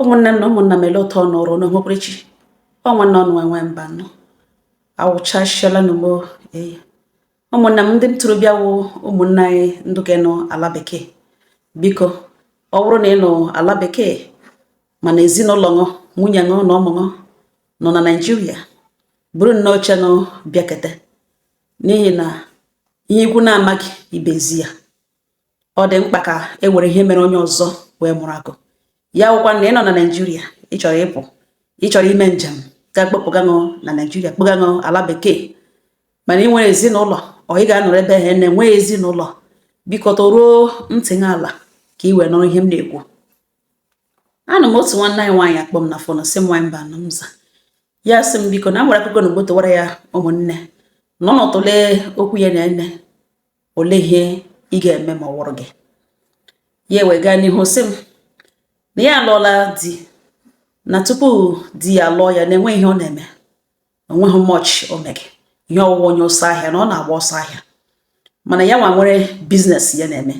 ụmụnne m na ụmụnna m ele ụtọ nọrọ n'okpukperechi ọ nwanne ọnụ nwaanyị mbanọ awụchasịala n'ogbo eyi ụmụnna m ndị ntorobịa wụ ụmụnne anyị ndị ke nọ ala bekee biko ọ bụrụ na ị nọ ala bekee mana ezinụlọ ṅụ nwunye ṅụ na ụmụ ṅụ nọ na naijiria buru nnọọ oche ṅụ bịakete n'ihi na ihe ikwu na-amaghị ibe ezi ya ọ dị mkpa ka e were ihe mere onye ọzọ wee mụrụ akọ ya wụkwa na ị nọ na naijiria ị chọrọ ịpụ ị chọrọ ime njem ga-akpọpụga ṅụ na naijiria kpọga ṅụ ala bekee mana ị nwere ezinụlọ ọ ị ga-anọrọ ebe ha na-enweghị ezinụlọ biko tọruo ntị ala ka ị wee nụrụ ihe m na-ekwu anọ m otu nwanne anyị nwaanyị akpọ m na phone sị m nwaanyị mbanọ m za ya sị m biko na m nwere akụkọ na ogbotowara ya ụmụnne nọnụ tụlee okwu ya na ene olee ihe ị ga-eme ma ọ wụrụ gị ya wee gaa n'ihu sị m na ya alụọla di na tupu di ya alụọ ya na-enwe ihe ọ na-eme o nweghị much o mege ihe ọ wụ wụ onye ọsọ ahịa na ọ na-agba ọsọ ahịa mana ya nwa nwere business ya na-eme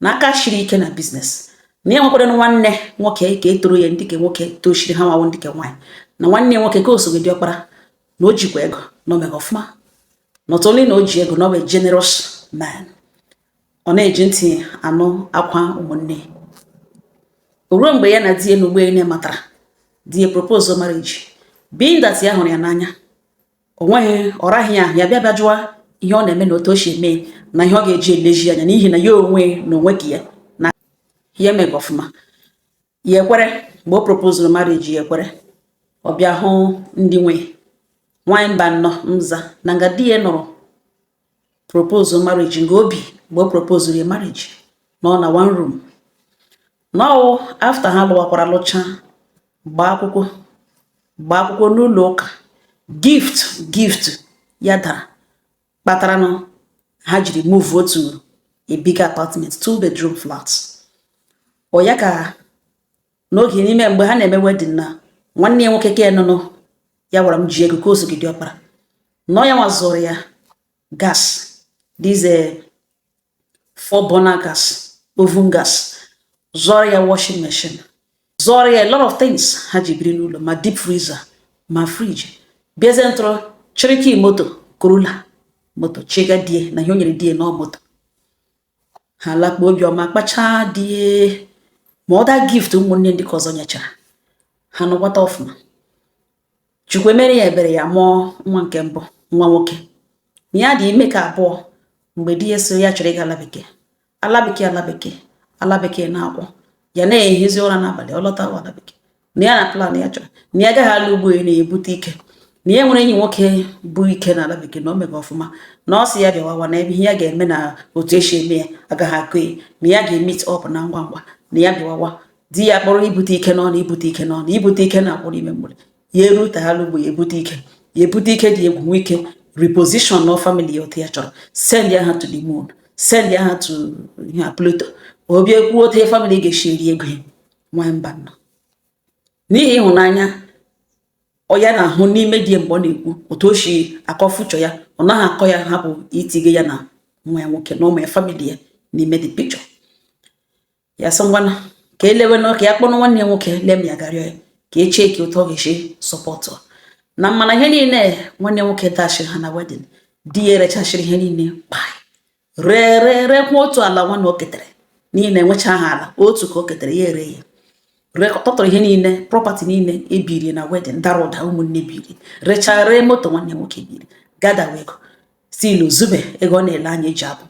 na aka shiri ike na business na ya nwekwara nwanne nwoke ke toro ya ndị ke nwoke tochiri ha nwa wụ ndị ke nwaanyị na nwanne nwoke ke o soga diọkpara na o jikwa ego na o mega ọfụma not only na o ji ego na ọ bụ generous man ọ na-eji ntị anụ akwa ụmụnne ruo mgbe ya na di ya n'ugbu ene matara di ya propose marriage being that ya hụrụ ya n'anya o nweghị ọ raghị ya ahụ ya bịa bịa jụwa ihe ọ na-eme na otu o si eme na ihe ọ ga-eji elezi anya n'ihi na ya onwe na onwe ke ya na ya mega ọfụma ya ekwere mgbe o propozuru marriage ya ekwere ọ bịa hụ ndị nwe ya nwanyị mbanọ m za na nga di ya nọrọ propose marriage nga o bi mgbe o propozuru ya marriage nọ na one room na ọ wụ after ha lụwakwara lụcha gbaa akwụkwọ gbaa akwụkwọ n'ụlọ ụka gift gift ya dara kpataranụ ha jiri move out to a big apartment two bedroom flat ọ ya ka n'oge n'ime mgbe ha na-eme wedding na nwanne ya nwoke ke nụnụ ya gwara m ji ego ke o soga diọkpara na ọ ya nwa zụọrọ ya gas these four burner gas oven gas zụọrọ ya washing machine zụọrọ ya a lot of things ha ji biri n'ụlọ ma deep freezer ma fridge bịazie ntụrụ chịrị key moto corolla moto chịga di ya na ihe o nyere di ya na moto ha lakpuo obiọma kpachaa di ya ma other gift ụmụnne ndị ke ọzọ nyechara ha nọkwata ọfụma chukwu emere ya ebere ya mụọ nwa nke mbụ nwa nwoke na ya dị ime nke abụọ mgbe di ya sị ya chọrọ ịga ala bekee ala bekee ala bekee ala bekee na-akwụ ya na-ehizi ụra n'abalị ọ lọta ala bekee na ya na plan ya chọrọ na ya agaghị ala ugbo na-ebute ike na ya nwere enyi nwoke bụ ike na ala bekee na o mega ọfụma na ọ sị ya bịawawa na ebe ihe ya ga-eme na otu esi eme ya agaghị akụ ya na ya ga-emeet up na ngwa ngwa na ya bịawawa di ya kpọrọ ibute ike n'ọnụ ibute ike n'ọnụ ibute ike na-akwụrụ ime mgbere ya erute ala ugbo ya ebute ike ya ebute ike dị egwu nwee ike reposition na family ya otu ya chọrọ sendịa ha to the moon sendịa ha to Pluto obi ekwu otu ya family ga-esi eri ego ya nwanyị mba nọ n'ihi ịhụnanya ọ ya na-ahụ n'ime di mgbe ọ na-ekwu otu o si akọ future ya ọ naghị akọ ya hapụ itige ya na nwa ya nwoke na ụmụ ya family ya n'ime the picture ya sị ngwanụ ka e lewe na ka ya kpọrọ nwanne ya nwoke lem ya gaa rịọ ya ka e checkie otu ọ ga-esi sọpọtụ na mana ihe niile nwanne nwoke dashiri ha na wedding di ya erechachiri ihe niile kpai ree ree reekwa otu ala nwanne o ketere n'ihi na enwecha ha ala otu ka o ketere ya ere ya tọtọrọ ihe niile property niile e biri na wedding dara ụda ụmụnne biri rechaa ree moto nwanne nwoke biri gadawa ego still o zube ego ọ na-ele anya eji abụ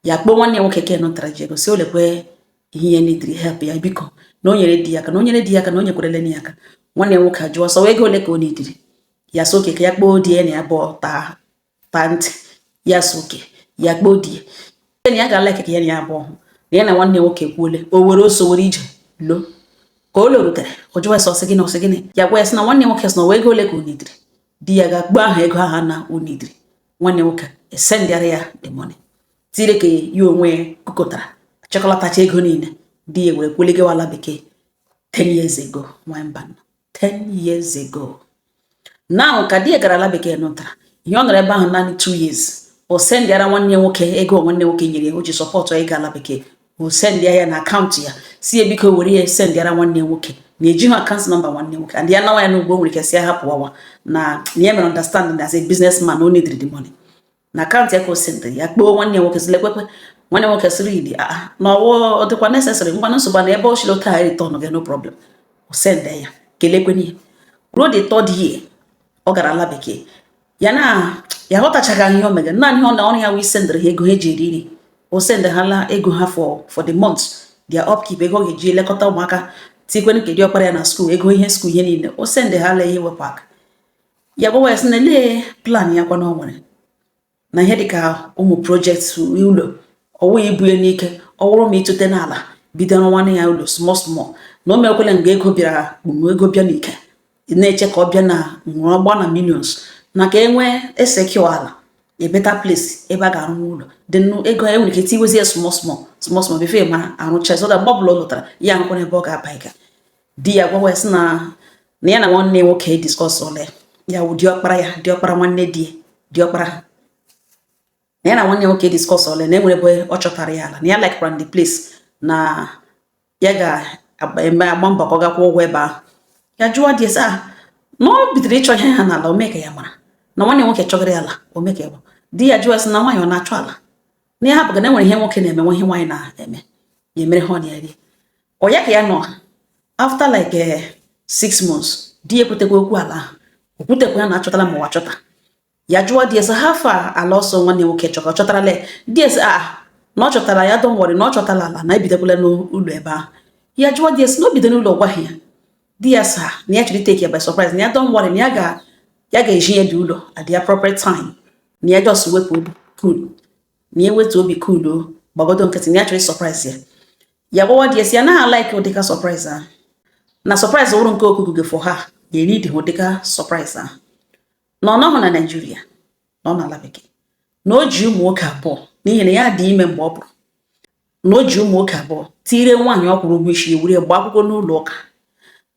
ya kpọọ nwanne ya nwoke ke nụtara ji ego sị lekwe ihe ya nidiri help ya biko na o nyere di ya aka na o nyere di ya aka na o nyekwarele ya aka nwanne ya nwoke ajụọ sị ọ ego ole ka o nidiri ya sị okay ka ya kpọọ di ya na ya bụ taa taa ntị ya sị okay ya kpọọ di ya na ya ga-ala ike ka ya na ya abụọ na ya na nwanne ya nwoke kwuole o were oso were ije lọọ ka o lọrutere o jụwa sị ọ sị gịnị ọ sị gịnị ya gwa ya sị na nwanne nwoke sị na ọ wụ ego ole ka o nidiri di ya ga-akpọ aha ego ahụ na o nidiri nwanne nwoke esendịara ya the money tire nke ya onwe ya kụkọtara chịkọlatacha ego niile di ya were kulie gawa ala bekee 10 years ago nwanyị mba 10 years ago now ka di ya gara ala bekee nụtara ihe ọ nọrọ ebe ahụ naanị 2 years o sendịara nwanne nwoke ego nwanne nwoke nyere ya o ji sọpọtụ ịga ala bekee o sendịa ya na account ya sị biko were ya sendịara nwanne nwoke na ejighị account number nwanne nwoke and ya nawa ya n'ugbo nwere ike sị ya hapụ ọwa na na ya mere understanding as a businessman o needed the money na account ya ka o sendịrị ya kpọọ nwanne nwoke sị lekwekwe nwanne nwoke sịrị idi a na ọ wụ ọ dịkwa necessary ngwa nsogbu na ebe ọ sịrị ọ ga-ereturn ya no problem o sendịa ya ka e lekwenụ ruo the third year ọ gara ala bekee ya na ya ghọtachaghị ihe o mega naanị ọnwa ruo ya wee sendịrị ha ego ha eji eri nri o sendị ha la ego ha for for the month their upkeep ego a ga-eji elekọta ụmụaka tikwenụ nke diọkpara ya na school ego ihe school ihe niile o sendị ha la ihe wepụ aka ya gwawa ya sị na lee plan ya kwa na o nwere na ihe dịka ụmụ project ụlọ ọ wụ ya ibunye n'ike ọ wụrụ ma ịtụte n'ala bido rụwana ya ụlọ small small na o mekwele mgbe ego bịara kpum ego bịa n'ike na-eche ka ọ bịa na ọ wụrụ ọ gbaa na millions na ka e nwee esecure ala a better place ebe a ga-arụ ụlọ dị nnụ ego ya nwere ike tiwezi ya small small small small before ma arụcha so that mgbe ọbụla ọ lọtara ya nwekwanụ ebe ọ ga-aba ịga di ya gwawa ya sị na na ya na nwanne nwoke discuss ole ya wụ diọkpara ya diọkpara nwanne di diọkpara ha na ya na nwanne nwoke discuss ole na enwere ebe ọ chọtara ya ala na ya likekwa the place na ya ga-eme agba mbọ ka ọ gaa kwụọ ụgwọ ebe ahụ ya jụwa di ya sị ah na o bidoro ịchọ ihe ha n'ala o mee ka ya mara na nwanne nwoke chọgara ya ala o mee ka ya di ya jụwa sị na nwaanyị ọ na-achọ ala na ya hapụga na enwere ihe nwoke na-eme nwe ihe nwaanyị na-eme ya emere ha ọ na eri ọ ya ka ya nọ after like eh, six months di ya ekwutekwa okwu ala ahụ o kwutekwa ya na achọtala ma ọ wụ achọta ya jụọ di ya sị how far ala ọ sị nwanne nwoke chọrọ ọ chọtarala di ya sị na ọ chọtara ya don't worry na ọ chọtara ala na ebidokwala n'ụlọ ebe ahụ ya jụọ di ya sị na o bido n'ụlọ ọ gwaghị ya di ya sị na ya chọrọ itake ya by surprise na ya don't worry na ya ga ya ga-ezi ya the ụlọ at the appropriate time na ya just wetu obi cool na ya wetu obi cool o gbagodo nkịtị na ya chọrọ surprise ya ya gwawa di ya sị ya na like ụdịka surprise ahụ na surprise wụrụ nke okuku gị for ha ga-eri dị ụdịka surprise ahụ na ọ nọghị na Nigeria na ọ nọ n'ala bekee na o ji ụmụ nwoke abụọ n'ihi na ya dị ime mgbe ọ pụrụ na o ji ụmụ nwoke abụọ tiire nwaanyị ọ kwụrụ ụgwọ isi ya were gbaa akwụkwọ n'ụlọ ụka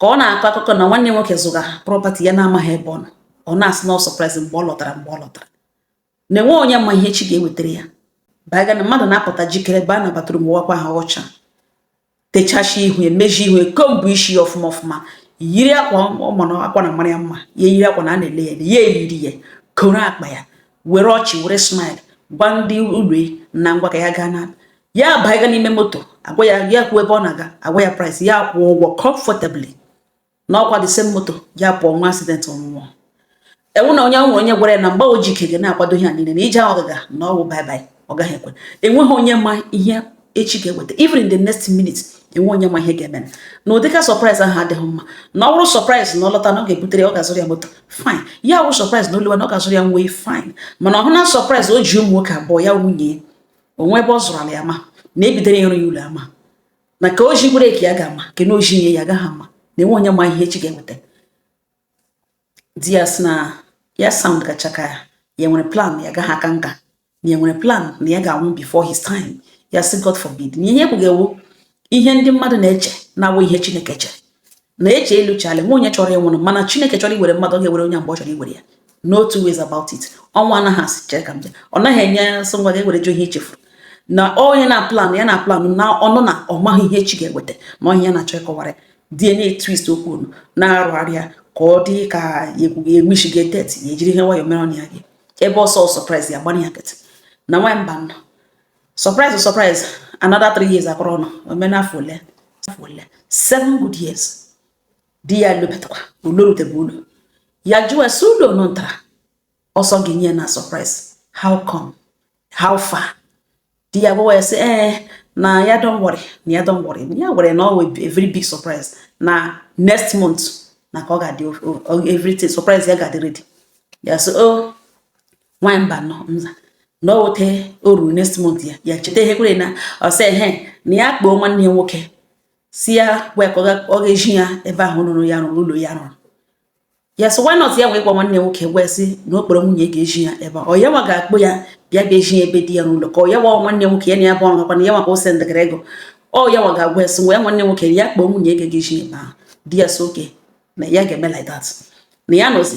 ka ọ na-akọ akụkọ na nwanne nwoke zụga property ya na-amaghị ebe ọ nọ ọ na-asị na ọ surprise mgbe ọ lọtara mgbe ọ lọtara na enwe onye ma ihe echi ga-ewetara ya baga na mmadụ na-apụta jikere baa na bathroom wụkwaa ahụ ọcha techacha ihu ya mezie ihu ya comb isi ya ọfụma ọfụma yiri akwa ọ ma na akwa na mara ya mma ya yiri akwa na a na-ele ya ya eyiri ya koro akpa ya were ọchị were smile gwa ndị ụlọ na ngwa ka ya gaa na ya baga n'ime moto agwa ya ya kwuo ebe ọ na-aga agwa ya price ya kwụọ ụgwọ comfortably na ọkwa the same moto ya pụọ nwee accident ọ nwụọ ewo na onye nwere onye gwara ya na mgbe o ji ike ga na-akwado ihe a niile na ije ahụ ọ gaga na ọ wụ bye bye ọ gaghị ekwe enweghị onye ma ihe echi ga-eweta even in the next minute enwe onye ma ihe ga-eme na ụdịka surprise ahụ adịghị mma na ọ bụrụ surprise na ọ lọta na ọ ga-ebutere ya ọ ga-azụrụ ya moto fine ya wụ surprise na ọ lọwa na ọ ga-azụrụ ya uwe fine mana ọhụ na surprise o ji ụmụ nwoke abụọ ya nwunye o nwe ebe ọ zụrụ ala ya ma na e bidoro ya ịrụ ya ụlọ ama na ka o ji breki ya ga-ama ke na oji nye ya agaghị ama na enwe onye ma ihe echi ga-eweta di ya sị na ya sound gacha ka ya nwere plan ya agaghị aka nka na ya nwere plan na ya ga-anwụ before his time ya sị God forbid na ihe e kwuga wụ ihe ndị mmadụ na-eche na-awụ ihe Chineke chere na eji elu chale nwa onye chọrọ ịnwụrụ mana chineke chọrọ iwere mmadụ ọ ga-ewere onye mgbe ọ chọrọ iwere ya no two ways about it ọnwụ anaghị asị chere ka m bịa ọ naghị enye sị ngwa ga-ewere jụ ihe i chefuru na onye na plan ya na plan na ọnụ na ọ maghị ihe chi ga-eweta na ọhịa ya na-achọ ịkọwara di ya na twist okwu unu na-arụgharịa ka ọ dị ka egwuegwu ga etet ya ejiri ihe nwayọ mere ọnya gị ebe ọ sị ọ surprise ya gbanye ya nkịtị na nwa mba nọ surprise surprise another three years akọrọ ọnụ o mena afọ ole afọ ole seven good years di ya lọbatakwa ọ lọrutebe ụlọ ya jụọ ya sị ụlọ nọ ntara ọ sị ọ ga-enye ya na surprise how come how far di ya gwawa ya sị ee eh, na ya don't worry na ya don't worry ya were na ọ a very big surprise na next month na ka ọ ga-adị everything surprise ya ga-adị ready ya sị o oh, nwaanyị mba nọ mza na o wete o ruru next month ya ya cheta ihe kwere na ọ sị ehe na ya kpọọ nwanne ya nwoke sị ya wee ka ọ ga-ezi ya ebe ahụ rụrụ ya rụrụ ụlọ ya rụrụ ya so why not ya wee gwa nwanne ya nwoke wee sị na ọ kpọrọ nwunye ya ga-ezi ya ebe ọ ya nwa ga-akpọ ya bịa bịa ezi ya ebe di ya n'ụlọ ka ọ ya nwa nwanne ya nwoke ya na ya bụ ọrụ gakwana ya nwa ka ọ sendịgara ego ọ ya nwa ga-agwa ya sị ngwa ya nwanne ya nwoke ya kpọọ nwunye ya ga-ezi ya ebe ahụ di ya sị okay na ya ga-eme like that na ya nọzi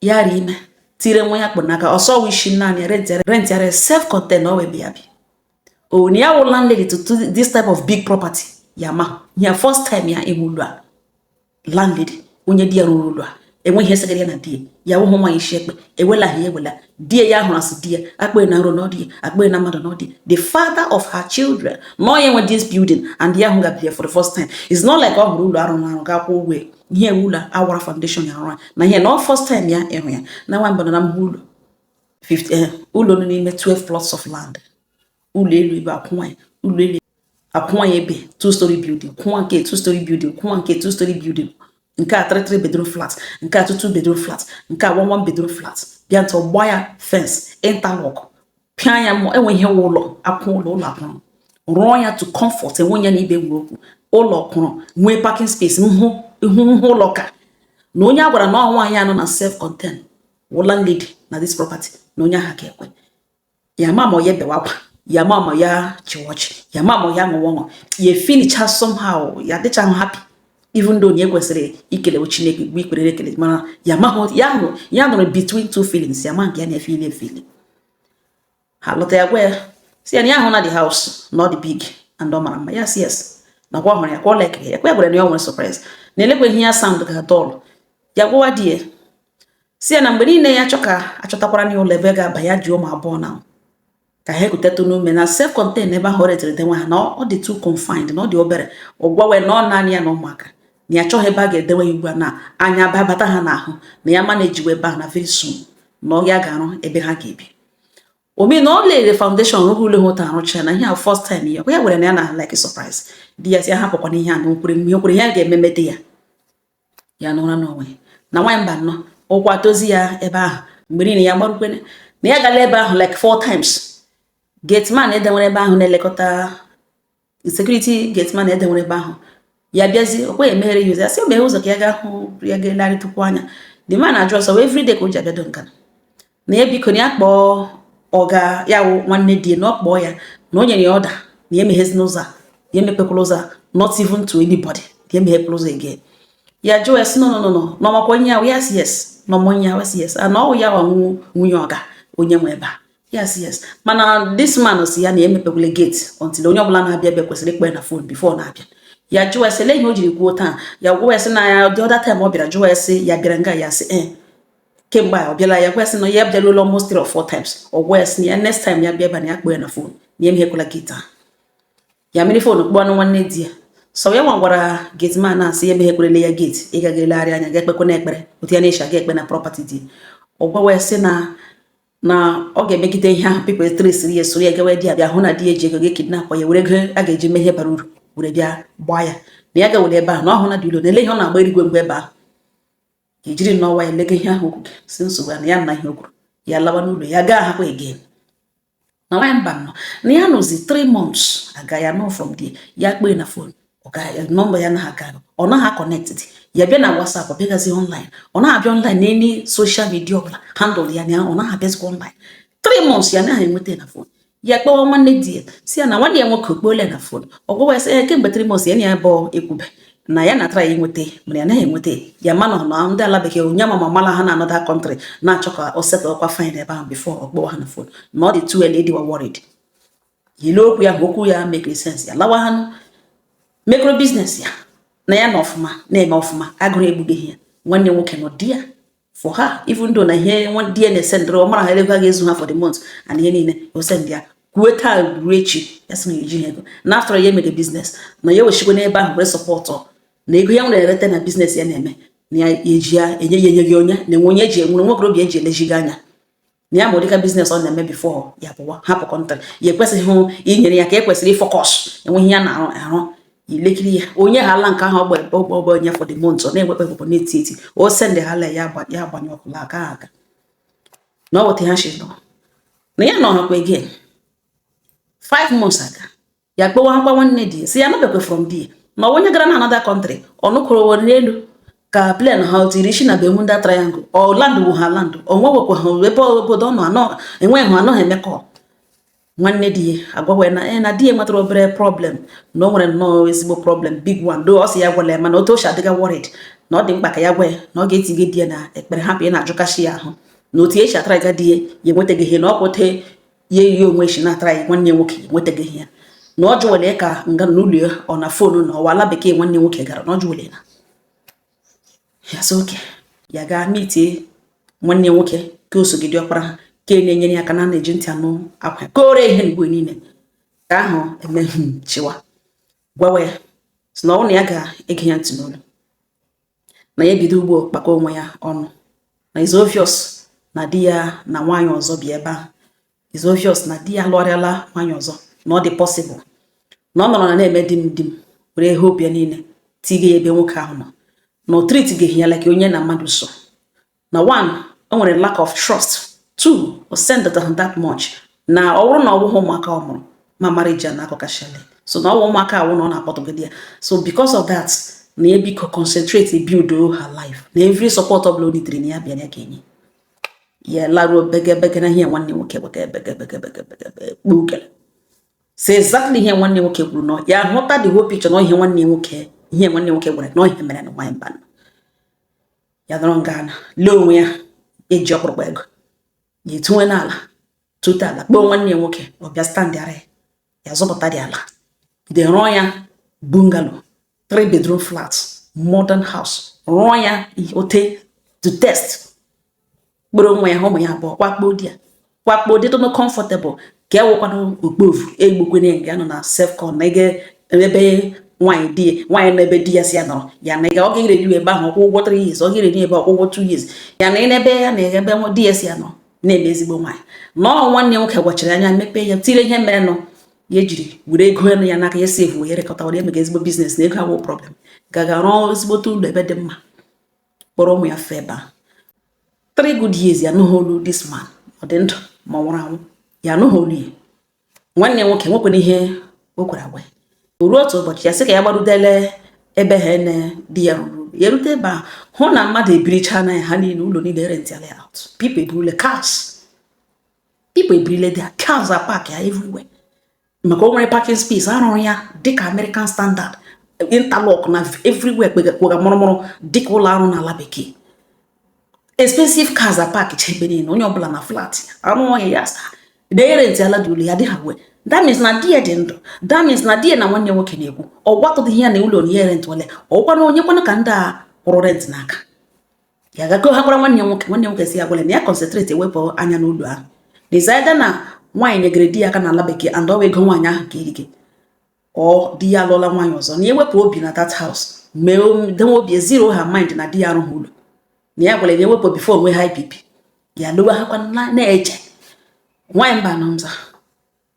ya rị ime tire nwa ya kpụ n'aka ọ sị ọ wụ isi naanị rentịara rentịara self content o wee bịa bi onye ya wụ landlady to this type of big property ya ma ya first time ya ịhụ ụlọ a landlady onye di ya rụrụ ụlọ a enweghị ihe segara ya na di ya ya wụhụ nwaanyị isi ekpe ewela ha ewela di ya ya hụrụ asị di ya a kpee na nrọ na ọ di ya a kpee na mmadụ na ọ di ya the father of her children na ọ ya nwe this building and ya ahụga ya for the first time it's not like ọ hụrụ ụlọ arụ arụ ga-akwụ ụgwọ ihe ụlọ a wara foundation ya arụ na ihe na first time ya ịhụ ya na nwa mbụ na mba ụlọ eh, ụlọ nọ n'ime 12 plots of land ụlọ elu ebe akwụnwa ya ụlọ elu akwụnwa ya ebe two story building kwụnwa nke two story building kwụnwa nke two story building nke a three three bedroom flat nke a two two bedroom flat nke a one one bedroom flat bịa ntị ọ gbaa ya fence interlock pịa ya mọ enwe ihe ụlọ akwụ ụlọ ụlọ akwụrụ rụọ ya to comfort enwe ya na ibe nwere okwu ụlọ kwụrụ nwee parking space n'ihu n'ihu ụlọ ka na onye a gwara na ọ nwaanyị a nọ na self content wụ landlady na this property na onye ahụ ga-ekwe ya ma ma ya bewe akwa ya ma ma ya chịwa ọchị ya ma ma ya ṅụwa ọṅụ ya feelicha somehow ya dịcha happy even though na e kwesịrị ikelewe chineke gbue ikpere ekele mana ya mahụ ya nọrọ ya nọrọ between two feelings ya ma nke ya na-efeeli efeeli ha lọta ya gwa ya sị ya na ya ahụna the house na ọ dị big and ọ mara mma ya sị yes na kwa ọ hụrụ ya kwa ọ likere ya kwa ya gwara na ya nwere surprise na olekwa ihe ya sound ga dull ya gwawa di ya si ya na mgbe niile ya chọ ka achọtakwara na ụlọ ebe ọ ga-aba ya ji ụmụ abụọ na ka ha ekutetụ n'ume na self contained ebe ahụ rentere dewe ha na ọ dị too confined na ọ dị obere ọ gwawa ya na ọ naanị ya na ụmụaka na ya chọghị ebe a ga-edewe ya ugbu a na anya babata ha n'ahụ na ya manejiwe ebe ahụ na very soon na ọ ya ga-arụ ebe ha ga-ebi omi na ọ lere foundation rụrụ ụlọ hụta arụcha na ihe a first time ya ya were na ya na like surprise di ya si ya hapụkwana ihe a na okwere ihe okwere ihe a ga-ememede ya ya n'ụra n'onwe na nwaanyị mba nnọọ ụkwụ atozi ya ebe ahụ mgbe niile ya gbarukwene na ya agala ebe ahụ like four times gateman e dewere ebe ahụ na-elekọta security gateman e dewere ebe ahụ ya bịazi o kwe emeghere ya ụzọ ya sị meghe ụzọ ka ya ga hụ ya ga-elegharịtụkwu anya the man ajụ ọ sị ọ every day ka o ji abịado nga na na ya biko na ya kpọọ ọga ya wụ nwanne di ya na ọ kpọọ ya na o nyere ya order na ya emeghezina ụzọ a ya emepekwala ụzọ a not even to anybody ya emeghekwala ụzọ again ya jụọ ya si no no no na ọ makwa onye ya wụ yes yes na ọ ma onye ya wụ yes yes na ọ wụ ya nwa nwunye ọga onye nwe ebe a yes yes mana this man si ya na ya emepekwala gate until onye ọbụla na-abịa ebe kwesịrị ịkpọ ya na fon before na-abịa ya jụọ ya sị lee ihe o jiri kwuo otu a ya gwa ya sị na ya the other time ọ bịara jụọ ya sị ya bịara nga ya sị ee eh. kemgbe a ọ bịala ya gwa ya sị na ya abịaruola almost three or four times ọ gwa ya sị na ya next time ya bịa ebe na ya kpọọ ya na fon na ya emehekwala gate ahụ ya were fon kpọọ anụ nwanne di ya sị ọ ya nwa gwara gate man asị ya emeghekwelele ya gate ịga ga elegharị anya ga ekpekwe na ekpere otu ya na-eshi aga ekpe na property di ọ gwawa ya sị na na ọ ga-emegide ihe ahụ people tresiri ya soro ya gawa di ya bịa hụ na di ya eji ego ga-ekidnapụ ya were ego a ga-eji mee ihe bara uru were bịa gbaa ya na ya gawere ebe ahụ na ọ hụ na dị ụlọ na ele ihe ọ na-agba erigwe mgbe ebe ahụ ka e jiri nnọọ nwayọ lega ihe ahụ okwu gị si nsogbu ya na ya na ihe o kwuru ya lawa n'ụlọ ya agahakwa again na nwaanyị mba nọ na ya nọzi 3 months aga ya nọ from there ya kpọọ ya na fon nọmba ya naghị aga ọ naghị connected ya bịa na WhatsApp ọ bịaghazị online ọ naghị abịa online n'any social media ọbụla handle ya na ọ naghị abịazikwa online 3 months ya naghị enweta na fon ya kpọwa nwanne di ya si ya na nwanne ya nwoke ọ kpọọle ya na fon ọ gwawa ya sị ya kemgbe 3 months ya na ya bụ ekwube na ya na-atraị ya inweta mana ya naghị enweta ya mana ọ na ndị ala bekee onye ma mala ha na another country na-achọ ka o settlekwa fine ebe ahụ before ọ kpọwa ha na fon na ọ dị too early ịdịwa worried ya lee okwu ya bụ okwu ya mekiri sense ya lawa ha nụ micro business ya na ya na ọfụma na-eme ọfụma agụrụ egbubeghị ya nwanne nwoke nọ there for her even though na ihe nwa di ya na-esendịrị ọ mara ha ego a ga-ezu ha for the month and ihe niile o send ya kwue taa ruo echi ya sị na eji ha ego na after ya mere business na ya wechikwa n'ebe ahụ were support na ego ya nwere ereta na business ya na-eme na ya eji ya enye ya enye gị onye na-enwe onye eji enwere nwokorobịa eji eleji gị anya na ya ma ụdịka business ọ na-eme before ya pụwa hapụ country ya ekwesịghị inyere ya aka ekwesịrị ịfocus enweghị ya na-arụ arụ ilekiri ya onye ha ala nke ahụ ọgba ebe ọgba ọgba onye for the month ọ na-egbekpe egbekpọ na-eti eti o sendị ha la ya agbanye ọkụla aka aga na ọ weta ha shi nọ na ya nọrọkwa again five months aga ya kpọwakwa nwanne di sị ya anụbekwe from di ma onye gara na another country ọnụkụrụ were n'elu ka plane ha tiri isi na Bermuda triangle ọ landụ wu ha landụ onwe wekwa ha ebe obodo ọnụ anọ enweghị ha anọghị emekọ nwanne di ya agwawa na eh, na di ya nwetara obere problem na o nwere nnọọ ezigbo problem big one do ọ sị ya agwala ya mana otu o si adịga worried na ọ dị mkpa ka ya gwa ya na ọ ga-etinye di ya na ekpere hapụ ya na-ajụkachi ya ahụ na otu e si atara ga di ya ya enwetaghị ihe na ọ kwụte ya ihe onwe shi na-atara ya nwanne nwoke nwetaghị ihe ya na ọ jụwere ka nga n'ụlọ ya ọ na phone na ọ wụ ala bekee nwanne nwoke gara na ọ jụwere na ya sị okay ya gaa meetie nwanne nwoke ka o sogide ọkpara ha ka e na-enyere ya aka na na-eji ntị anụ akwa kore ihe mgbe niile ka ahụ emeghị chịwa gwawa ya sị na ọ na ya ga-ege ya ntị n'olu na ya bido ugbo kpakọ onwe ya ọnụ na is obvious na di ya na nwaanyị ọzọ bi ebe ahụ is obvious na di ya lụọrịala nwaanyị ọzọ na ọ dị possible na ọ nọrọ na na-eme di m di m were hope ya niile tige ya ebe nwoke ahụ nọ na o treatghị ya like onye na mmadụ so na one o nwere lack of trust two o sendetaghị that much na ọ bụrụ na ọ bụghị ụmụaka ọ mụrụ ma marriage a akọkashala so na ọ wụ ụmụaka ahụ na ọ na-akpọtụgide ya so because of that na ya biko concentrate build her life na every support ọbụla o needịrị na ya bịa ya ga-enye ya laruo begebege na ihe nwanne nwoke kpukere so exactly ihe nwanne nwoke kwuru na ya hụta the whole picture na ihe nwanne nwoke ihe nwanne nwoke gwara na ihe mere na nwanyị mba ya nọrọ nga ana lee onwe ya eji ọkpụrụkpụ ego ya etuwe n'ala tute ala kpọọ nwanne ya nwoke ọ bịa standịara ya ya zụpụtadị ala de rụọ ya bungalow three bedroom flat modern house rụọ ya ote to taste kpọrọ onwe ya ụmụ ya abụọ kwakpo di ya kwakpo dị tụnụ comfortable ka e wekwana okpofu egbukwene nga ya nọ na self-con na ege ebe nwaanyị di nwaanyị nọ ebe di ya sị ya nọrọ ya na ọ ga-ere di ebe ahụ ọ kwụ ụgwọ 3 years ọ ga-ere di ebe ọ kwụ ụgwọ 2 years ya na ebe ya na ebe di ya sị ya nọ na-eme ezigbo nwaanyị na ọ nwanne nwoke gwachara anya mepee ya tire ihe merenụ ya ejiri were ego elu ya n'aka ya saveuo ya rekọta were emega ezigbo business na ego awụ problem gaga rụọ ezigbote ụlọ ebe dị mma kpọrọ ụmụ ya fee ebe a three good years ya anụghị olu this man ọ dị ndụ ma ọ nwụrụ anwụ ya anụghị olu ya nwanne nwoke nwekwara ihe o kwere agwa o ruo otu ụbọchị ya sị ka ya gbarudele ebe ha na di ya rụrụ ya erute ebe a hụ na mmadụ ebiricha na ya ha niile ụlọ niile rentịala out people ebirile cars people ebirile their cars are parked everywhere maka o nwere parking space a rụrụ ya dịka American standard interlock na everywhere kpegakpụga mụrụmụrụ dịka ụlọ a rụ n'ala bekee expensive cars a park cha ebe niile onye ọbụla na flat ya arụ ọhịa ya asa na erentiala dị ụlọ ya dịha wee that means na di ya dị ndụ that means na di ya na nwanne nwoke na-ekwu ọ gwatụdịghị ya na ụlọ na ya rentịwale ọ wụkwana onye kwana ka ndị a kwụrụ rent n'aka ya gago ha gwara nwanne ya nwoke nwanne nwoke sị ya gwara na ya concentrate ya wepụ anya n'ụlọ ahụ dezida na nwaanyị nyegere di ya aka n'ala bekee and ọ wụ ego nwaanyị ahụ ka irike ọ di ya alụọla nwaanyị ọzọ na ya wepụ obi na that house mee denwe obi zero her mind na di ya arụghị ụlọ na ya gwara na ya wepụ before o nwee high BP ya lowe ha kwa na-eche nwaanyị mba anọ nza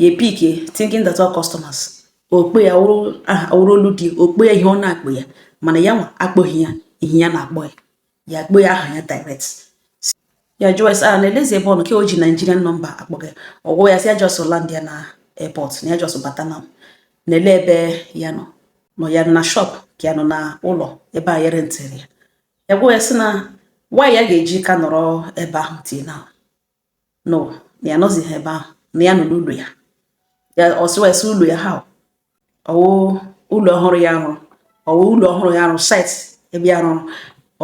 ya epikie thinking that ọ wụ customers ọ kpọọ ya ọ wụrụ olu di ọ kpọọ ya ihe ọ na-akpọ ya mana ya nwa akpọghị ya ihe ya na-akpọ ya ya akpọ ya aha ya direct ya jụọ ya sị ya na eleezi ebe ọ nọ ka o ji Nigerian number akpọ ya ọ gwa ya sị ya just landịa na airport na ya just bata na na elee ebe ya nọ ọ nọ ya na shop ka ya nọ na ụlọ ebe a ya rentịrị ya ya gwa ya sị na why ya ga-eji ka nọrọ ebe ahụ till now no na ya nọzighị ebe ahụ na ya nọ n'ụlọ ya ya ọ sị ya sị ụlọ ya ha ọ wụ ụlọ ọhụrụ ya rụrụ ọ wụ ụlọ ọhụrụ ya rụrụ site ebe ya rụrụ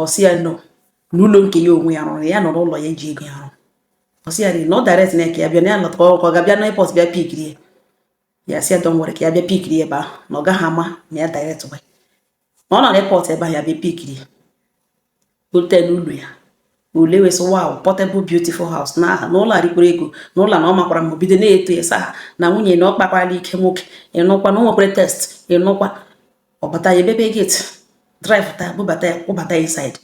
ọ sị ya nọ n'ụlọ nke ya onwe ya rụrụ ya nọ n'ụlọ ya ji ego ya rụrụ ọ sị ya dị na ọ directia ya ka ya bịa na ya lọta ka ọ ga-abịa na airport bịa pikiri ya ya sị ya don't worry ka ya bịa pikiri ebe ahụ na ọ gaghị ama ma ya directiwe ọ nọ na airport ebe ahụ ya bịa pikiri bute n'ụlọ ya o lee wee sị wow portable beautiful house na ah na ụlọ a rikwara ego na ụlọ na ọ makwara mma bido na-eto ya sị ah na nwunye na ọ kpakwara ike nwoke ịnụkwa na o nwekwara taste ịnụkwa ọ bata ya emepe gate drive taa bubata ya kpọbata ya inside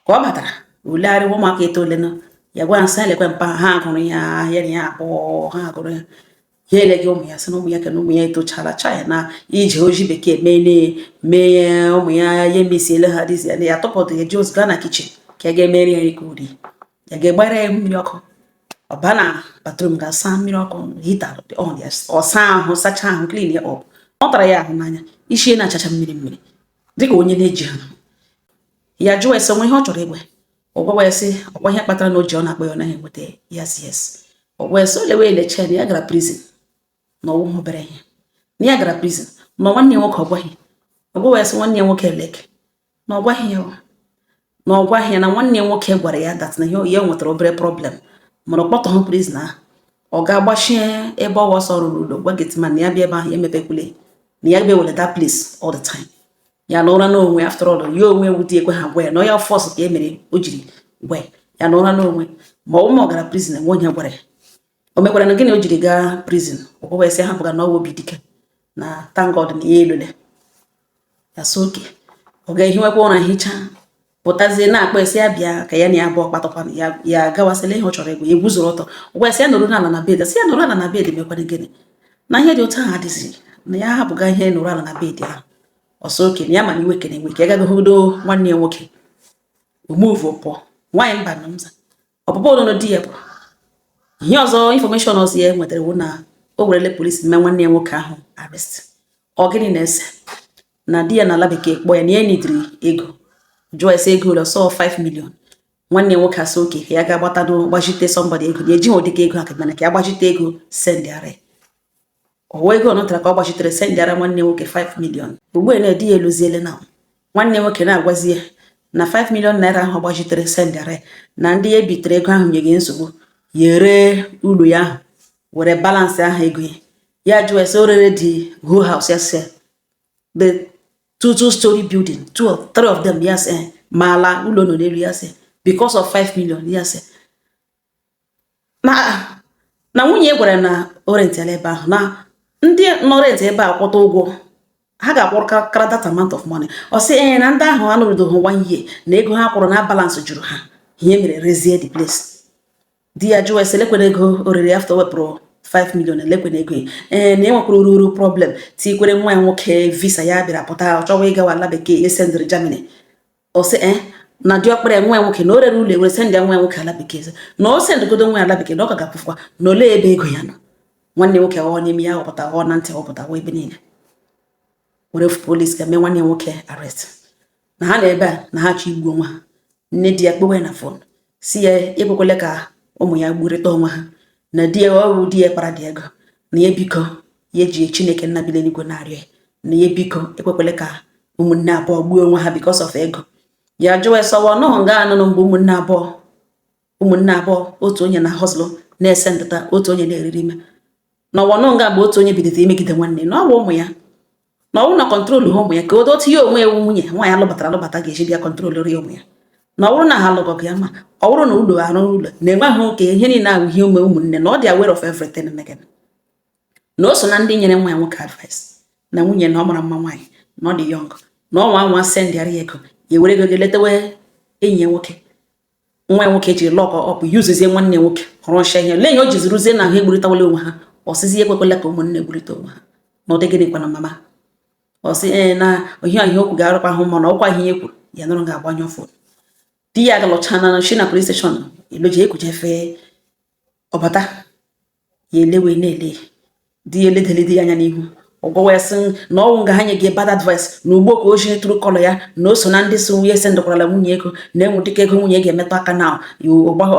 ka ọ batara o legharịwa ụmụaka etoolena ya gwa ha sị lekwe mpa hugụrụ ya ya na ya abụọ hugụrụ ya ya eleghị ụmụ ya sị na ụmụ ya kena ụmụ ya etochala chai na ije o ji bekee mee mee ụmụ ya ya emisiele ha dịzi ya na ya tọpọtụ ya ji ọsọ ga na kichin ka ya ga-emeri ya nri ka o rie ya ga-egbara ya mmiri ọkụ ọ baa na batrum ga-asa mmiri ọkụ hita ọ saa ahụ sachaa ahụ klin ya ọ pụtara ya ahụ na anya isi na-achacha mmiri mmiri dịka onye na-ejighị ahụ ya jụọ ya sị o nwe ihe ọ chọrọ ịgwa ọ gwawa ya sị ọ kwa ihe kpatara na o ji ọ na-akpọ ya ọ naghị enweta ya sị yes ọ gwa ya sị o lewe eleche na ya gara prison na ọ wụghị obere ihe na ya gara prison ma nwanne ya nwoke ọ gwaghị ọ gwawa ya sị nwanne ya nwoke elek na ọ gwaghị ya na ọ gwaghị ya na nwanne ya nwoke gwara ya dat na ya nwetara obere problem mana ọ kpọtụghị prison ahụ ọ gaa gbachie ebe ọwa ọ sị ọ rụrụ ụlọ gwa gateman na ya bịa ebe ahụ ya emepekwule na ya bịa wele that place all the time ya nọrọ n'onwe after all ya onwe wụ di ya ekweghị agwa ya na onye fọs ka e mere o jiri gwa ya nọrọ n'onwe ma ọ wụ ma ọ gara prison nwe onye gwara ya o mekwara na gịnị o jiri gaa prison ọ gwa ya sị hapụga na ọwa obi dike na thank God na ya elule ya sị okay ọ gaa hiwekwa ụra hichaa pụtazie na-akpọ ya sị ya bịa ka ya na ya abụọ kpatakwana ya ya gawasịla ihe ọ chọrọ ịgwa ya eguzoro ọtọ ọ gwa ya sị ya nọrọ ala na bed sị ya nọrọ ala na bed mekwara gịnị na ihe dị otu ahụ adịzi na ya hapụga ihe nọrọ ala na bed ahụ ọ sị okay na ya ma na iwe ka na-ewe ka ya gaa hụgodo nwanne ya nwoke o move pụọ nwaanyị mba na mza ọpụpụ ọnụnụ di ya bụ ihe ọzọ information ọzọ ya nwetara wụ na o werele police mee nwanne ya nwoke ahụ arrest ọ gịnị na-ese na di ya nọ ala bekee kpọọ ya na ya nidiri ego jụọ ya sị ego ole ọ sị 5 million nwanne ya nwoke asị okay ya ga-agbata gbazite somebody ego na ejighị ụdịka ego aka mana ka ya gbazite ego sendịara ọwa ego ọ natara ka ọ gbazitere sendịara nwanne nwoke 5 million ugbu a na di ya eluziele na nwanne nwoke na-agwazi ya na 5 million naira ahụ ọ gbazitere sendịara ya na ndị ya ebitere ego ahụ enye ya nsogbu ya ree ụlọ ya ahụ were balansịa ha ego ya ya jụọ ya sị o rere the whole house ya sị the two two story building two or three of them ya sị ma ala ụlọ nọ n'elu ya sị because of 5 million ya sị na na nwunye ya gwara ya na o rentịala ebe ahụ na ndị nọ rent ebe a kwụta ụgwọ ha ga-akwụrụ ka- kara that amount of money ọ sị ee na ndị ahụ anọrudoghị one year na ego ha kwụrụ na balance juru ha ihe mere rezie the place di ya jụọ ya sị lekwere ego o rere after e wepụrụ 5 million elekwere ego ya. ee na enwekwara uru uru problem tikwere nwa ya nwoke visa ya bịara pụta ọ chọwa ịgawa ala bekee esendịrị germany ọ sị ee eh, na diọkpara nwa ya nwoke na o rere ụlọ ya were sendị nwa ya nwoke ala bekee na o sendịgodo nwa ya ala bekee na ọ ka ga-akwụfụkwa na olee ebe ego ya nọ nwanne nwoke ghọọ n'imi ya họpụta ghọọ na ntị họpụta ghọọ ebe niile were police gaa mee nwanne nwoke arrest na ha nọ ebe a na ha chọ igbu onwe ha nne di ya kpọwa ya na phone sị ya ekwekwele ka ụmụ ya gburịta onwe ha na di ya ọrụ di ya kpara dị ego na ya biko ya ji chineke nna bi n'eluigwe na-arịọ ya na ya biko ekwekwele ka ụmụnne abụọ gbuo onwe ha because of ego ya jụwa ya sị ọwa ọ nọhụ nga anụnụ mgbe ụmụnne abụọ ụmụnne abụọ otu onye na-ahustle na-esendịta otu onye na-eriri ime na ọwa ọ nọ nga mgbe otu onye bidoro imegide nwanne na ọwa ụmụ ya na ọwụ na control ha ụmụ ya ka odo otu ya onwe ewu nwunye nwaanyị alụbatara alụbata ga-eji bịa control ri ụmụ ya na ọ bụrụ na ha alụgọ gị ma ọ bụrụ na ụlọ arụọ ụlọ na-enweghị oke ihe niile ahụ ihe ume ụmụnne na ọ dị aware of everything megana na o so na ndị nyere nwa ya nwoke advice na nwunye na ọ mara mma nwaanyị na ọ dị young na ọnwa nwa sendịara ya ego ya were ego gị letawe enyi ya nwoke nwa ya nwoke jiri lock up yuzuzie nwanne nwoke rụcha ihe lee ya o jizi ruzie na ha egburịtawala onwe ha ọ sịzi ekwekwela ka ụmụnne gburịta onwe ha na ụdị gịnị kwana mama ọ sị ee na ohia ihe okwu ga-arụkwa ahụ mana ọkwa ihe kwuru ya nụrụ ga-agbanyụ phone di ya galọcha na shi na police station eloji ekujefe ọ bata ya elewe na-ele di ya eledeli di ya anya n'ihu ọ gwawa ya sị na ọwụ nga ha nye gị bad advice na ugbo ka o ji true colour ya na o so na ndị so nwunye esendịkwarala nwunye ego na enwere dịka ego nwunye ga-emetụ aka na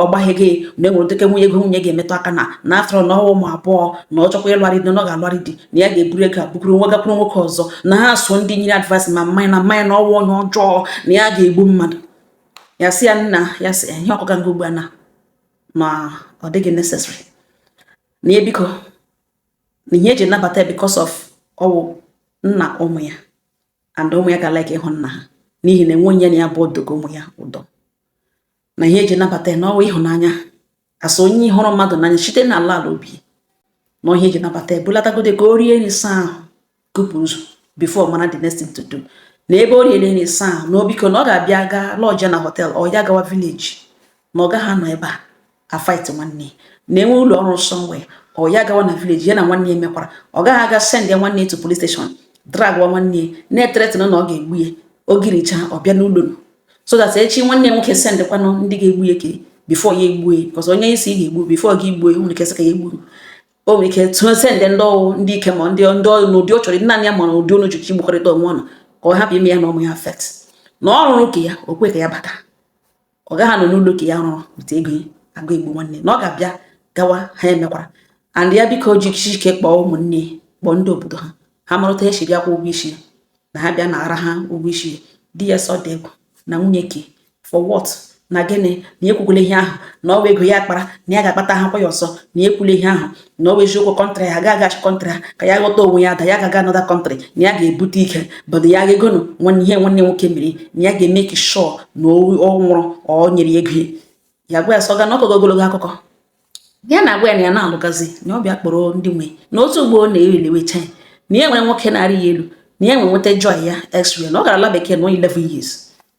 ọgbaghị gị na enwere dịka nwunye ego nwunye ga-emetụ aka na na afọrọ na ọwụ ụmụ abụọ na ọ chọkwa ịlụgharị di na ọ ga-alụgharị di na ya ga-eburu ego abụkwuru nwa gakwuru nwoke ọzọ na ha so ndị nyere advice mama ya na mama ya na ọwụ onye ọjọọ na ya ga-egbu mmadụ ya sị ya nna ya sị ihe ọ kọga nga ugbu a na ma ọ dịghị necessary na ya biko na ihe eji nabata because of ọwụ nna ụmụ ya and ụmụ ya ga like ịhụ nna ha n'ihi na enwe onye na ya bụ odogo ụmụ ya ụdọ na ihe eji nabata na ọwụ ịhụnanya as onye hụrụ mmadụ n'anya site na ala ala obi na ihe eji nabata ebulatagodo ka o rie nri saa ahụ kupụrụ ụzọ before mana the next thing to do na ebe o riere nri saa ahụ na obiko na ọ ga-abịa gaa lodge na hotel ọ ya gawa village na ọ gaghị anọ ebe a afight nwanne na enwe ụlọ ọ rụ somewhere ọ ya gawa na village ya na nwanne ya mekwara ọ gaghị aga send ya nwanne ya to police station dragwa nwanne ya na-ethreaten ya na ọ ga-egbu ya ogiricha ọ bịa n'ụlọ so that echi nwanne nwoke sendịkwanụ ndị ga-egbu ya ke before ya egbue because onye ị sị ị ga-egbu before gị gbue nwere ike sị ka ya egburu o nwere ike to send ndị ọwụ ndị ike ma ndị ndị ọrụ n'ụdị ọ chọrọ naanị ya ma n'ụdị unu ji gbakọrịta onwe unu ka ọ hapụ ime ya na ụmụ ya affect na ọ rụrụ ka ya o kwe ka ya bata ọ gaghị anọ n'ụlọ ka ya rụrụ bute ego ya aga egbu nwanne na ọ ga-abịa gawa ha emekwara and ya biko ji ike kpọọ ụmụnne kpọọ ndị obodo ha ha marụta ya si bịa kwụ ụgwọ isi ya na ha bịa nara ha ụgwọ isi di ya sị ọ dị egwu na nwunye ke for what na gịnị na ekwukwula ihe ahụ na ọwụ ego ya kpara na ya ga-akpata ha kwa ya ọzọ na ekwula ihe ahụ na ọwụ eziokwu country ha ga-agachi country ha ka ya ghọta onwe ya that ya ga-aga another country na ya ga-ebute ike bọdụ ya ga-egonụ nwanne ihe nwanne nwoke mere na ya ga-emake sure na ọ nwụrụ ọ nyere ego ya gwa ya sọ ga na ọ kọgo ogologo akụkọ ya na-agwa ya na ya na-alụgazi na ọ bịa kpọrọ ndị nwe na otu ugbo ọ na-eri lewecha ya na ya nwere nwoke na-arị ya elu na ya nwere nweta joy ya x-ray na ọ gara ala bekee na 11 years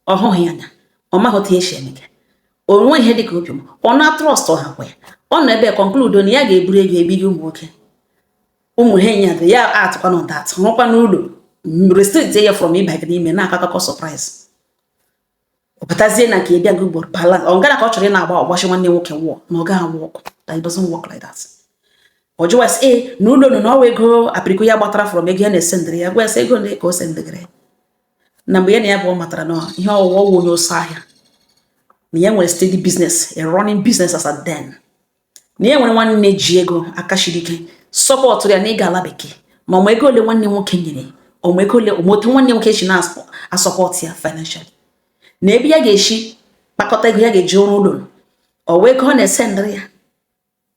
ọ hụghị ya anya ọ maghị otu ya si emega o nwee ihe dịka obiọma ọ na trust ọha kwa ya ọ nọ ebe conclude na ya ga-eburu ego ebighị ụmụ nwoke ụmụ ha enyi ya dị ya atụkwa na ụda atụ rụkwa n'ụlọ restrict ya from ịbanye n'ime na-akọ akụkọ surprise ọ pụtazie na nke ịbịa gị ugboro bala ọ gara ka ọ chọrọ ị na-agba ọgbachi nwanne nwoke wụọ na ọ gaghị a-work that doesn't work like that ọ jụwa sị ee na ụlọ nụ na ọ wụ ego apịrịko ya gbatara from ego ya na-esendịrị ya gwa ya sị ego ndị ka o sendịgịrị na mgbe ya na ya bu ọ matara na ihe ọ wụwa wụ onye ọsọ ahịa na ya nwere steady business a running business as at then na ya nwere nwanne ji ego aka siri ike sọpọtụrụ ya na ịga ala bekee ma ọ ma ego ole nwanne nwoke nyere ọ ma ego ole ọ ma otu nwanne nwoke shi na-asọpọtụ ya financially na ebe ya ga-eshi kpakọta ego ya ga-eji arụ ụlọ ọ wụ ego ọ na-esendịrị ya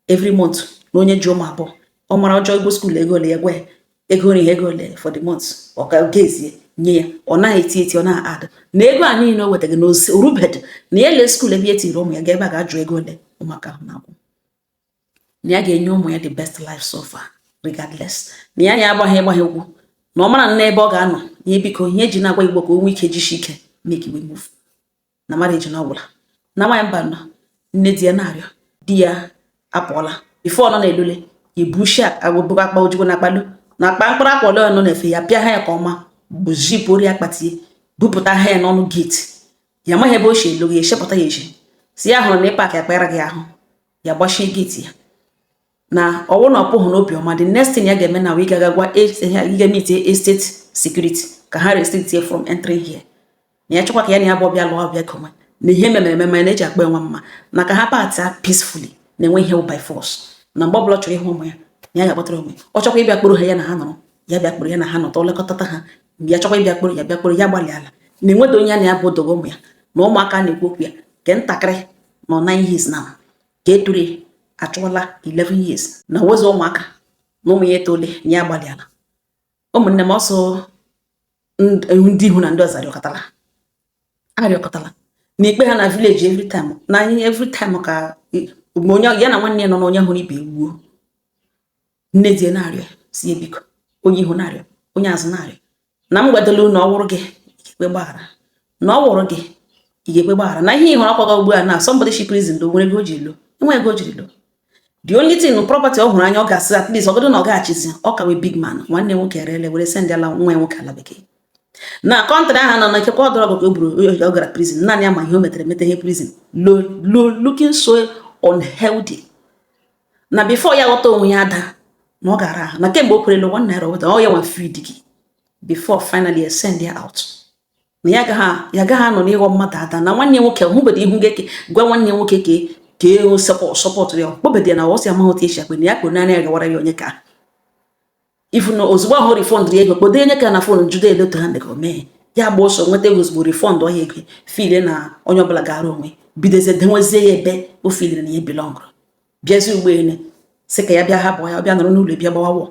every month na onye ji ụmụ abụọ ọ mara ọ jụọ ụgwọ school ego ole ya gwa ya ego nri ego ole for the month ọ ka gezie nye ya ọ naghị eti eti ọ na-adị na ego a niile o wetaghị na o rubedị na ya lee school ebe ya tiri ụmụ ya ga ebe a ga-ajụ ego ole ụmụaka ahụ na-akwụ na ya ga-enye ụmụ ya the best life so far regardless na ya ya agbaghị ịgbaghị egwu na ọ mara na ebe ọ ga-anọ ya biko ihe e ji na-agwa gị bụ ka o nwee ike jisi ike make we move na marriage na ọ gwụla na nwaanyị mba nọ nne di ya na-arịọ di ya apụọla before ọ nọ na-elule ibushi agwụbụkwa akpa ojukwu na akpalu na akpa mkpụrụ akwa ole nọ na efe ya pịa ha ya ka ọma buzipụrụ ya akpatie bupụta ha ya n'ọnụ gate ya amaghị ebe o si elu ya echepụta ya eji si ya hụrụ na ịpak akpara gị ahụ ya gbachie gate ya na ọ wụ na ọ pụghị n'obi ọma the next thing ya ga-eme na wụ ịga agwa ga meet estate security ka ha restrict ya from entering here na ya chọkwa ka ya na ya bụ ọ bịa lụọ ọ bịa koma na ihe mere eme ma na-eji akpa enwe mma na ka ha patịa peacefully na e nweghị ihe by force na mgbe ọbụla chọrọ ịhụ ụmụ ya na ya ga-akpọtara onwe ọ chọkwa ịbịa kpọrọ ha ya na ha nọrọ ya bịa kpọrọ ya na ha nọtụ lekọtata ha mgbe ya chọkwa ịbịa kpọrọ ya bịa kpọrọ ya gbalịala na enwedị onye ya na ya bụ dọga ụmụ ya na ụmụaka na-ekwu okwu ya nke ntakịrị nọ nine years now nke toro achụọla 11 years na awụzị ụmụaka na ụmụ ya etole na ya gbalịala ụmụnne m ọsọ ndị ihu na ndị ọzọ arịọkọtala arịọkọtala na-ekpe ha na village every time na every time ka onye ya na nwanne ya nọ na onye hụrụ ibe gbuo nne di na-arịọ sị ya biko onye ihu na-arịọ onye azụ na-arịọ na m gwadolu na ọ wụrụ gị ị ga-ekwe gbaghara na ọ wụrụ gị ị ga-ekwe gbaghara na ihe ị hụrụ akwaga ugbu a na somebody shi prison lọ nwere ego o ji lọ enwe ego o jiri lọ the only thing property ọ hụrụ anya ọ ga-asị at least ọgọdụ na ọ gaghachizi ọ ka wụ big man nwanne nwoke erele were sendara nwa nwoke ala bekee na country ahụ nọ na ikekwe ọ drug ka o buru ọ gara prison naanị ya ma ihe o metere mete shi prison lọ lọ looking so unhealthy na before ya ghọta onwe ya ada na ọ gara ahụ na kemgbe o kwerela one naira weta ọ ya nwa feed gị before finally send ya out na ya gaghị ya gaghị anọ n'ịghọ mmadụ ada na nwanne nwoke hụbedo ihu gị gwa nwanne nwoke ka ka ego support ya kpọbedị ya na ọ sị amaghị otu esi akpe na ya kpere naanị ya gawara ya onyeka ifu na ozugbo ahụ refund ya ego kpọdo onyeka na phone jụdo ole otu ha mega o mee ya gba ọsọ nweta ego ozugbo refund ọhịa ego feel na onye ọbụla gara onwe bidozie denwezie ya ebe o feeliri na ya belongụrụ bịazie ụgbọelu sị ka ya bịa hapụ ya bịa nọrọ n'ụlọ bịa gbawa wọ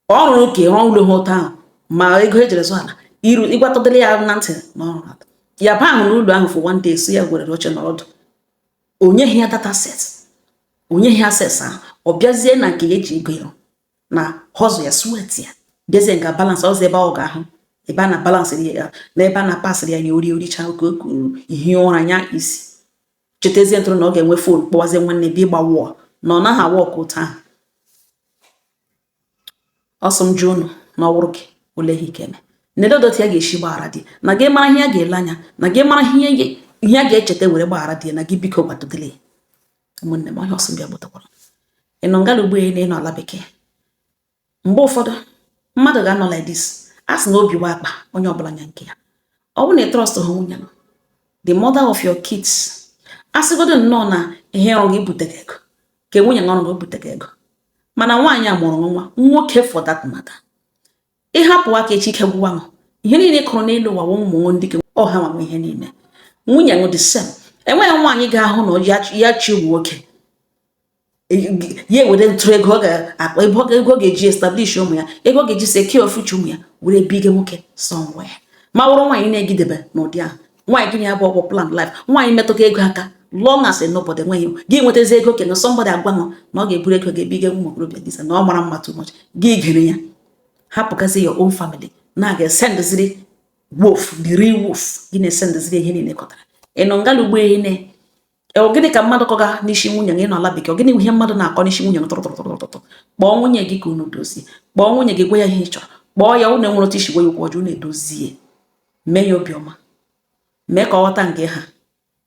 ọ rụrụ ka rụọ ụlọ ha ụtọ ahụ ma ego e jiri zụ ala iru ịgwatọdịrị ya na ntị na o rula ya baa n'ụlọ ahụ for one day so ya gwere oche nọdụ onye ya data set onye ya ses ahụ ọ bịazie na nke ya eji ego ya na hustle ya sweat ya bịazie nga balance ọzọ ebe ọ ga-ahụ ebe a na balance ya na ebe a na passịrị ya ya ori o richa oke o kuru hie ụra nya isi chetezie ntụrụ na ọ ga-enwe phone kpọwazie nwanne bịa ịgba wọọ na ọ naghị awa ọkụ taa so m jụọ unu na ọ wụrụ gị ole ihe ị ga-eme na ole otu ya ga-esi gbaghara di na gị mara ihe ya ga-ele anya na gị mara ihe ya ga-echeta were gbaghara di na gị biko gwadodele ụmụnne m ọhịa ọsọ ndị agbatakwara ị nọ nga ala igbo na ị nọ ala bekee mgbe ụfọdụ mmadụ ga-anọ like this a sị na obi wụ akpa onye ọbụla nya nke ya ọ bụrụ na ị trust ha nwunye nọ the mother of your kids a sịgodo nnọọ na ihe ọrụ gị bute gị ego ka nwunye gị ọrụ gị bute gị ego mana nwaanyị a mụrụ nwa nwoke for that matter ịhapụ aka echi ike gwụwa m ihe niile kụrụ n'elu ụwa ụmụ ndị gị ọha nwa ihe niile nwunye m the same enweghị nwaanyị ga-ahụ na ya chi nwoke ya ewere ntụrụ ego ọ ga-akpa ebe ego ọ ga-eji establish ụmụ ya ego ọ ga-eji secure future ụmụ ya were biga nwoke somewhere ma wụrụ nwaanyị na-egidebe n'ụdị ahụ nwaanyị gịnị abụ ọgwụ plan life nwaanyị metụta ego aka long as nobody nweghị gị nwetazi ego okenye somebody agwa na ọ ga-eburu ego ga-ebiga ụmụ okorobịa disa na ọ mara mma too much gị gere ya hapụgazi your own family na-aga esendịziri wolf the real wolf gị na-esendịziri ihe niile ị kọtara ị nọ nga ala igbo ehi ne ọ gịnị ka mmadụ kọga n'isi nwunye gị nọ ala bekee ọ gịnị ihe mmadụ na-akọ n'isi nwunye gị tụrụtụrụtụrụtụtụ kpọọ nwunye gị ka unu dozie kpọọ nwunye gị gwa ya ihe ị chọrọ kpọọ ya unu enwere otu i si gwa ya okwu ọjọọ unu edozie mee ya obiọma mee ka ọ ghọta nke ha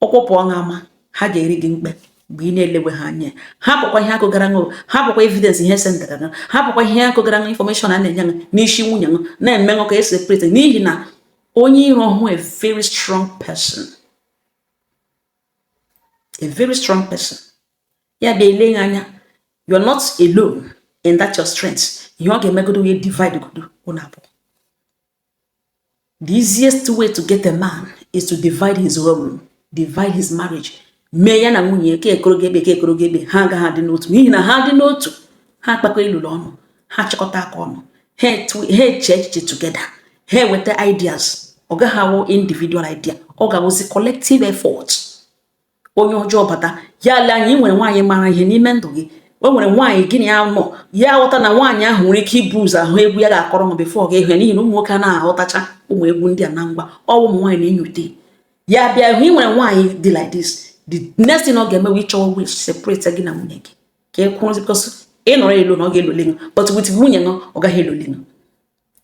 ọkpọpụ ọṅụ ama ha ga-eri gị mkpe mgbe ị na-elewe ha anya ha bụkwa ihe akụgara ṅụ ha bụkwa evidence e sendara ṅụ ha bụkwa ihe akụgara ṅụ information a na-enye ṅụ n'isi nwunye ṅụ na-eme ṅụ ka separate n'ihi na onye iro hụ a very strong person a very strong person ya bịa ele ya anya you're not alone in that your strength ihe ọ ga-emegodo wee divide godo ụnụ abụọ the easiest way to get a man is to divide his home divide his marriage mee ya na nwunye ka ekoro gị ekpe ka ekoro gị ekpe ha agaghị adị n'otu n'ihi na ha dị n'otu ha akpakọ ilolo ọnụ ha chịkọta aka ọnụ ha eche echiche together ha eweta ideas ọ gaghị awụ individual idea ọ ga-awụzi collective effort onye ọjọọ bata ya ele anya ị nwere nwaanyị mara ihe n'ime ndụ gị o nwere nwaanyị gị na ya nọ ya ghọta na nwaanyị ahụ nwere ike ibu ụzọ ahụ egwu ya ga-akọrọ ma before gị ahụ ya n'ihi na ụmụ nwoke anaghị aghọtacha ụmụ egwu ndị a na ngwa ọ wụ ụmụ nwaanyị na-enyote ya bịa hụ ị nwere nwaanyị dị like this the next thing ọ ga-eme wụ ịchọ way iji separate gị na nwunye gị ka ị kwụrụ because ị nọrọ alone ọ ga-elole gị but with nwunye ṅụ ọ gaghị elole gị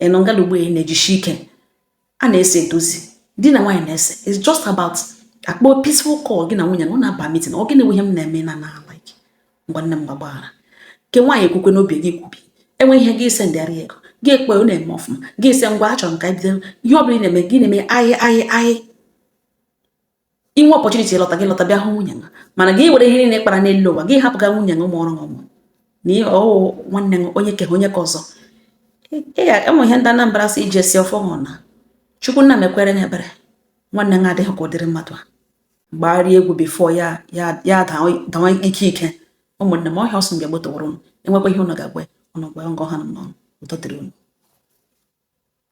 ị nọ ngala ugbo na-ejisi ike a na-ese edozi di na nwaanyị na-ese it's just about akpọ peaceful call gị na nwunye ṅụ na-aba meeting ọ gịnị wụ ihe m na-eme na na like ngwa nne m gbaghara nke nwaanyị ekwukwe n'obi gị kwubi e nwee ihe gị asị ndịara ego gị ekpe ọ na-eme ọfụma gị asị ngwa achọrọ m ka bido ihe ọ bụla ị na-eme gị na-eme ahị ahị ahị i nwee opportunity ịlọta gị lọta bịa hụ nwunye gị mana gị were ihe niile kpara n'elu ụwa gị hapụga nwunye gị ụmụ ọrụ ọmụ na ihe ọ wụ nwanne gị onye ke onye ka ọzọ e nwere ihe ndị Anambra si eji asị ọfọ hụ na chukwu nna mekwere ya ebere nwanne gị adịghị ka ụdịrị mmadụ a gbagharịa egwu before ya ya dawa ike ike ụmụnne m ọhịa ọsọ mgbe gbotoworo m enwekwa ihe ụnụ ga-agwa ụnụ gwa ngọ ha n'ọnụ ụtọ dịrị ụnụ